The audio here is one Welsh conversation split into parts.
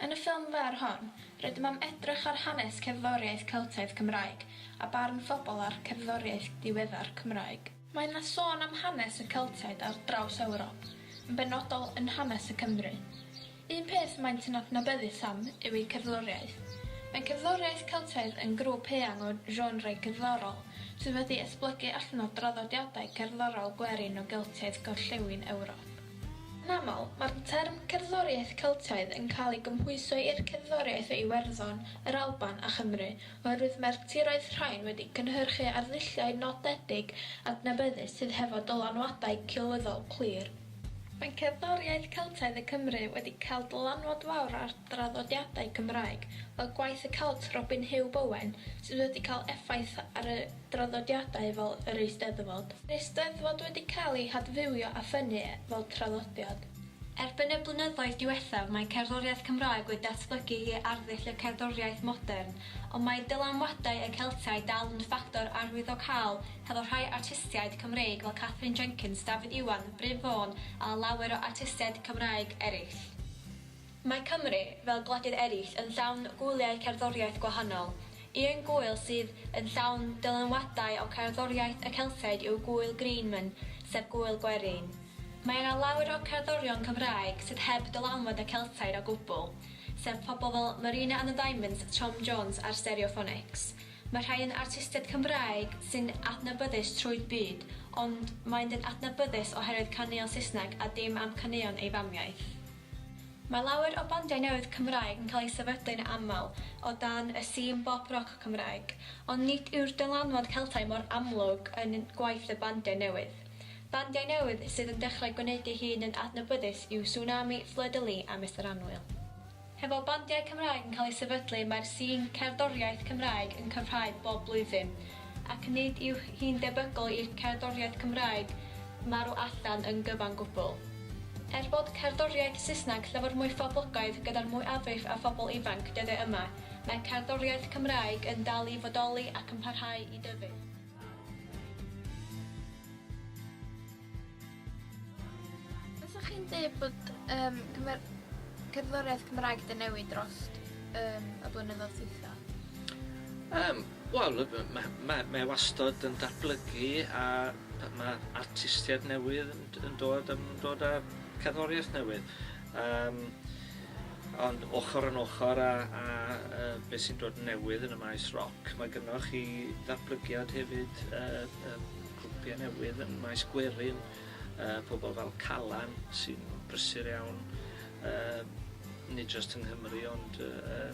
Yn y ffilm fer hon, rydym am edrych ar hanes cerddoriaeth Celtaidd Cymraeg a barn phobl ar cerddoriaeth diweddar Cymraeg. Mae yna sôn am hanes y Celtiaid ar draws Ewrop, yn benodol yn hanes y Cymry. Un peth maent yn adnabyddus am yw eu cerddoriaeth. Mae cerddoriaeth Celtaidd yn grŵp eang o genre cerddorol sydd wedi esblygu allan o draddodiadau cerddorol gwerin o Geltiaid Gorllewin Ewrop. Yn aml, mae'r term cerddoriaeth Celtaidd yn cael ei gymhwyso i'r cerddoriaeth o Iwerddon, yr Alban a Chymru, oherwydd mae'r tiroedd rhain wedi cynhyrchu arddulliau nodedig adnabyddus sydd hefo dylanwadau cywyddol clir. Mae cerddoriaeth Celtaidd y Cymry wedi cael dylanwad fawr ar draddodiadau Cymraeg, fel gwaith y Celt Robin Huw Bowen, sydd wedi cael effaith ar y draddodiadau fel yr Eisteddfod. Mae'r Eisteddfod wedi cael ei hadfywio a ffynnu fel traddodiad. Erbyn y blynyddoedd diwethaf mae cerddoriaeth Cymraeg wedi datblygu i arddull y cerddoriaeth modern, ond mae dylanwadau y Celtiaid dal yn ffactor arwyddocaol hefo rhai artistiaid Cymreig fel Katherine Jenkins, Dafydd Iwan, Bryf Fôn a lawer o artistiaid Cymraeg eraill. Mae Cymru, fel gwledydd eraill, yn llawn gwyliau cerddoriaeth gwahanol. Un gŵyl sydd yn llawn dylanwadau o cerddoriaeth y Celtiaid yw gŵyl Greenman, sef gŵyl gwerin. Mae yna lawer o cerddorion Cymraeg sydd heb dylanwad y Celtiaid o gwbl, sef pobl fel Marina and the Diamonds, Tom Jones a'r Stereophonics. Mae rhai yn artistiaid Cymraeg sy'n adnabyddus trwy'r byd, ond maent yn adnabyddus oherwydd caneuon Saesneg a dim am caneuon ei famiaith. Mae lawer o bandiau newydd Cymraeg yn cael eu sefydlu'n aml o dan y sîn bop-roc Cymraeg, ond nid yw'r dylanwad Celtaidd mor amlwg yn gwaith y bandiau newydd. Bandiau newydd sydd yn dechrau gwneud ei hun yn adnabyddus yw Sunami, Fleur-de-Lis a Mister Annwyl. Hefo bandiau Cymraeg yn cael eu sefydlu mae'r sîn cerddoriaeth Cymraeg yn cyfhau bob blwyddyn. ac nid yw hi'n debygol i'r cerddoriaeth Cymraeg marw allan yn gyfan gwbl. Er bod cerddoriaeth Saesneg llawer mwy phoblogaidd gyda'r mwyafrif o phobl ifanc dyddiau yma, mae cerddoriaeth Cymraeg yn dal i fodoli ac yn parhau i dyfu. Fysa chi'n dweud bod um, cymer... cerddoriaeth Cymraeg wedi newid dros um, y blynyddoedd dwytha? Um, Wel, mae ma, ma e wastad yn datblygu a mae artistiaid newydd yn, yn dod, yn dod â cerddoriaeth newydd. Um, ond ochr yn ochr a, a, a beth sy'n dod newydd yn y maes roc, mae gynnwch chi ddatblygiad hefyd uh, uh, Grwpiau newydd yn maes gwerin, yy pobl fel Calan sy'n brysur iawn, yy nid jyst yng Nghymru ond yy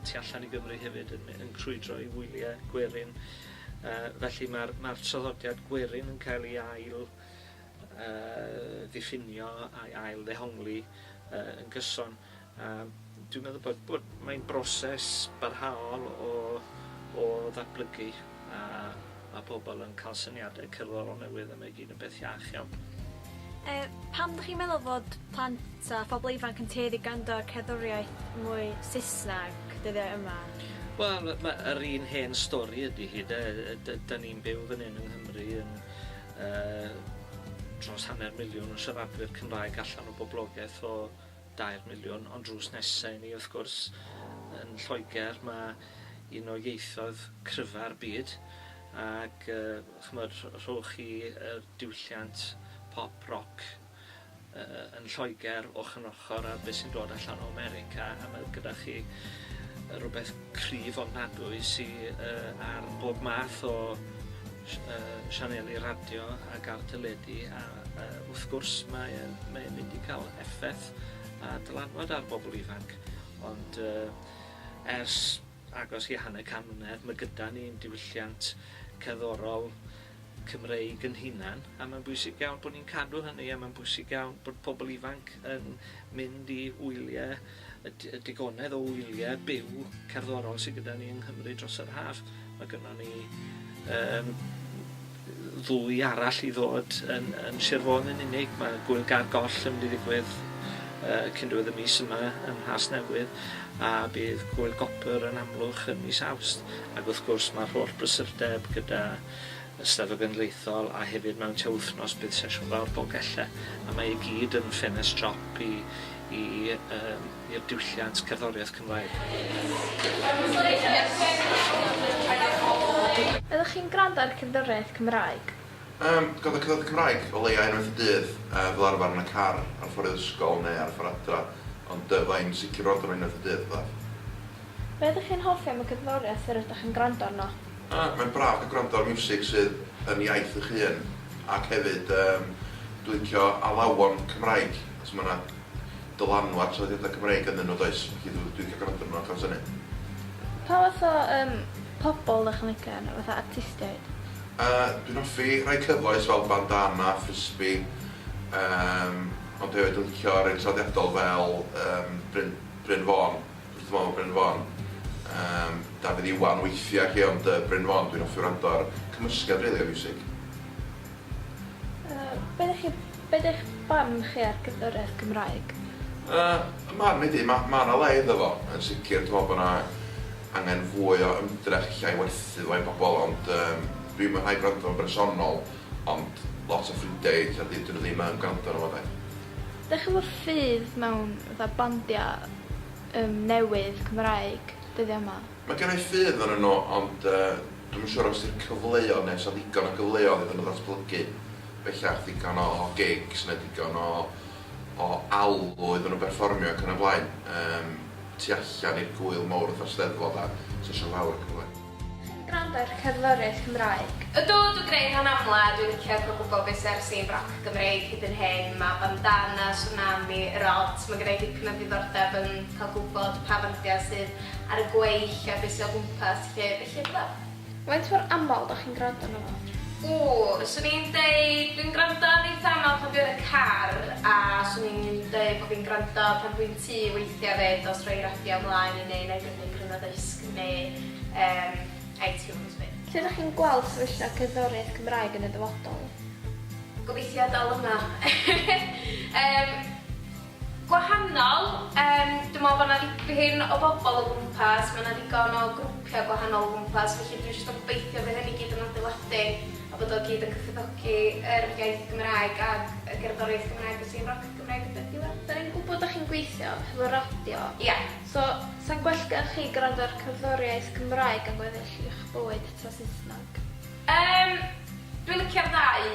tu allan i Gymru hefyd yn yn crwydro i wylie gwerin. Yy felly ma'r ma'r traddodiad gwerin yn cael ei ail yy ddiffinio a'i ail ddehongli yy yn gyson. A dwi'n meddwl bod bod mae'n broses barhaol o o ddatblygu a ma' pobol yn ca'l syniade cerddorol newydd a mae gyd yn beth iach iawn. Yy pam dych chi'n meddwl fod plant a phobl ifanc yn tueddu grando ar cerddoriaeth mwy Saesneg dyddiau yma? Wel ma' yr un hen stori ydi hi 'de yy yy dy- 'dan ni'n byw fan 'yn yng Nghymru yn yy dros hanner miliwn o siaradwyr Cymraeg allan o boblogeth o dair miliwn, ond drws nesa i ni wrth gwrs yn Lloegr ma' un o ieithoedd cryfa'r byd ac yy ch'mod rhowch chi yr diwylliant pop roc yy yn Lloegr ochor yn ochor â be' sy'n dod allan o America a ma' gyda chi yy rwbeth cryf ofnadwy sy yy ar bob math o sianeli radio ac ar deledu a yy wrth gwrs mae e'n mae e'n mynd i ca'l effeth a dylanwad ar bobol ifanc ond yy ers agos i hanner can mlynedd ma' gyda ni'n diwylliant cerddorol Cymreig 'yn hunan a ma'n bwysig iawn bo' ni'n cadw hynny a ma'n bwysig iawn bod pobol ifanc yn mynd i wylie y d- y digonedd o wylie byw cerddorol sy gyda ni yng Nghymru dros yr haf. Mae gynnon ni yym ddwy arall i ddod yn, yn Sir Fôn yn unig. Mae Gwyl Gar Goll yn mynd i ddigwydd uh, cyn diwedd y mis yma yn Rhas Newydd a bydd Gwyl Gopr yn amlwch yn mis Awst. Ac wrth gwrs mae'r holl brysurdeb gyda Eisteddfod Genedlaethol a hefyd mewn tua wythnos bydd sesiwn fawr Dolgellau a mae i gyd yn ffenest siop i i yym i'r diwylliant cerddoriaeth Cymraeg. Ydych chi'n gwrando ar cerddoriaeth Cymraeg? Yym, gwrando ar cerddoriaeth Cymraeg o leia unwaith y dydd, yy fel arfar yn y car ar y ffor i'r ysgol neu ar y ffor adra, ond yy fydda i'n sicr yn wrando arno unwaith y dydd, fatha. Be ydych chi'n hoffi am y cerddoriaeth yr ydych yn gwrando arno? Ac mae'n braf cael gwrando ar miwsig sydd yn iaith eich hun ac hefyd yym dwi'n licio alawon Cymraeg achos ma' 'na dylanwad traddodiadau Cymreig ynddyn nhw does? Felly dw- dwi'n licio gwrando arnyn nhw achos hynny. Pa fath o yym pobol 'dach chi'n licio enw fatha artistiaid? Yy dwi'n hoffi rhai cyfoes fel Bandana, Frisbee yym ond hefyd yn licio rei traddodiadol fel yym Bryn Bryn Fôn. Wrth fawr Bryn Fon. Yym, Dafydd Iwan weithia i chi ond yy Bryn Fon dwi'n offi wrando ar cymysgedd rili o fiwsig. Yy, be dych chi, be dych barn chi ar gerddoriaeth Cymraeg? Yy, y marn i di, ma' ma' na le iddo fo yn sicir dwi me'wl bo na angen fwy o ymdrech ella i werthu fo i bobol ond yym dwi'n mwynhau gwrando fo'n bersonol ond lot o ffrindia i ella dydyn nw ddim yn gwrando arno fo de. Dych ch'mbo ffydd mewn fatha bandia yym newydd Cymraeg dyddia ma? Ma genai ffydd arnyn nhw ond yy dwi'm yn siŵr os di'r cyfleon ne' os 'na ddigon o gyfleodd iddyn nhw ddatblygu bellach digon o o gigs ne' digon o o alw iddyn nhw berfformio ac yn y blaen yym tu allan i'r gŵyl mowr fatha'r Steddfod a sesiwn fawr ac yn y blaen. Chi'n gwrando ar Cerddoriaeth Cymraeg? Ydw, dwi'n gwneud hwn amla, dwi'n licio cael gwybod beth sydd ar y sîn roc Gymreig hyd yn hyn, mae Bandana, Swnami, Yr Odds, mae gynna i dipyn o ddiddordeb yn cael gwybod pa fandiau sydd ar y gweill a beth sydd o gwmpas 'lly, felly ydw am. Faint mor aml dach chi'n gwrando arno fo? Ww, 'swn i'n deud dwi'n gwrando arni eitha' aml pan dwi yn y car a 'swn i'n deud bo' fi'n gwrando pan dwi'n tŷ weithia' 'fyd, os rhoi radio mlaen i ni, 'nai brynu cryn o ddisg. neu yym iTunes fi. Lle ydych chi'n gweld sefyllfa cerddoriaeth Cymraeg yn y dyfodol? Gobeithio dal yma. Yym gwahanol, yym dwi me'wl bo' 'na ddipyn o bobol o gwmpas, ma' 'na ddigon o grwpia' gwahanol o gwmpas felly dwi jyst yn gobeithio by' hynny gyd yn adeiladu a bod o gyd yn cyfoethogi yr iaith Gymraeg ag y gerddoriaeth Gymraeg felly rock Cymraeg ydi'r diwedd. 'Dan ni'n gwbod 'dach chi'n gweithio hefo radio. Ia. So, sa'n gwell gen chi gwrando ar cerddoriaeth Cymraeg yn gweddill i'ch bywyd ta Saesneg? Yym, dwi'n licio'r ddau,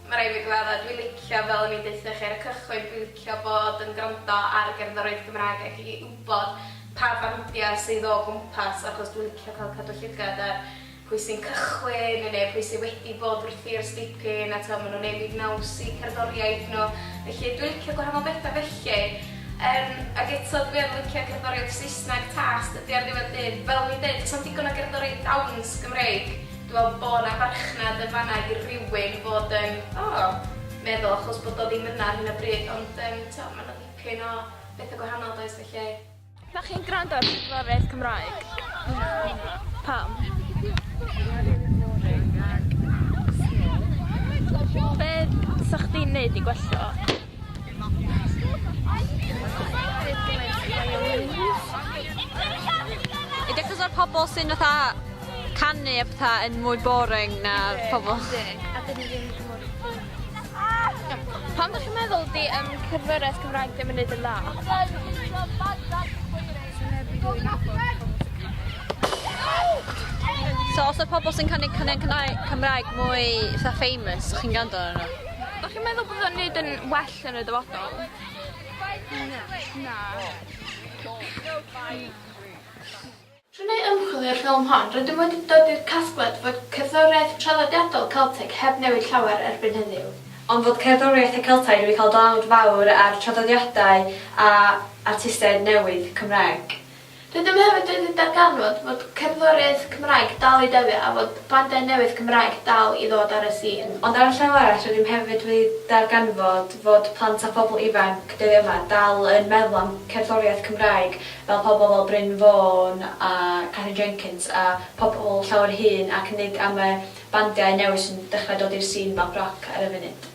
ma' raid fi gyfadda', dwi'n licio fel o'n i'n deutha chi ar y cychwyn, dwi'n licio bod yn gwrando ar gerddoriaeth Gymraeg ac i wbod pa fandia sydd o gwmpas achos dwi'n licio cael cadw llygad ar pwy sy'n cychwyn neu neu pwy sy wedi bod wrthi ers dipyn a t'mod ma' nhw'n newid naws i cerddoriaeth nhw felly dwi'n licio gwahanol betha felly yym ag eto dwi yn licio cerddoriaeth Saesneg tas dydi ar ddiwedd dydd fel o'n i'n deud does na'm digon o gerddoriaeth dawns Gymreig dwi me'wl bo' 'na farchnad yn fan'na i rywun fod yn o meddwl achos bod o ddim yna ar hyn o bryd ond yym t'mod ma' 'na dipyn o betha gwahanol does felly Dach chi'n gwrando ar Blaenoriaeth Cymraeg? Pam? Be sa chdi'n neud i gwella o? I dechres o'r pobol sy'n fatha canu a petha yn mwy boring na'r pobol. Pam ddech chi'n meddwl di um, cyfraith Cymraeg ddim yn neud yn dda? So os y pobl sy'n cynnig cynnig Cymraeg mwy fatha famous, chi'n gando ar nhw? Ydych chi'n meddwl bod o'n neud yn well yn y dyfodol? Na. Na. Trwy wneud ymchwil i'r ffilm hon, rydym wedi dod i'r casgliad fod cerddoriaeth traddodiadol Celteg heb newid llawer erbyn heddiw, ond fod cerddoriaeth y Celtaidd wedi cael dlawd fawr ar draddodiadau a artistiaid newydd Cymraeg. Rydym hefyd wedi darganfod fod cerddoriaeth Cymraeg dal i dyfu a fod bandau newydd Cymraeg dal i ddod ar y sîn. Ond ar y llaw arall, rydym hefyd wedi darganfod fod plant a phobl ifanc dyddiau yma dal yn meddwl am cerddoriaeth Cymraeg fel pobl fel Bryn Fôn a Catherine Jenkins a pobl llawer hŷn ac nid am y bandiau newydd sy'n dechrau dod i'r sîn math roc ar y funud.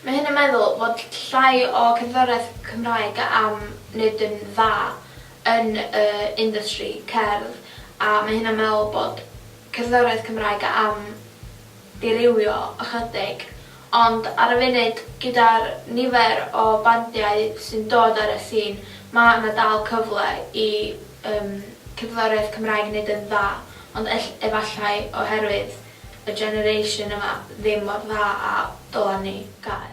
Mae hyn yn meddwl fod llai o cerddoriaeth Cymraeg am wneud yn dda yn y industry cerdd a mae hyn yn meddwl bod cerddoriaeth Cymraeg am dirywio ychydig, ond ar y funud, gyda'r nifer o bandiau sy'n dod ar y sîn, ma' 'na dal cyfle i yym cerddoriaeth Cymraeg neud yn dda, ond ell- efallai oherwydd y generation yma ddim mor dda a dylan ni gael.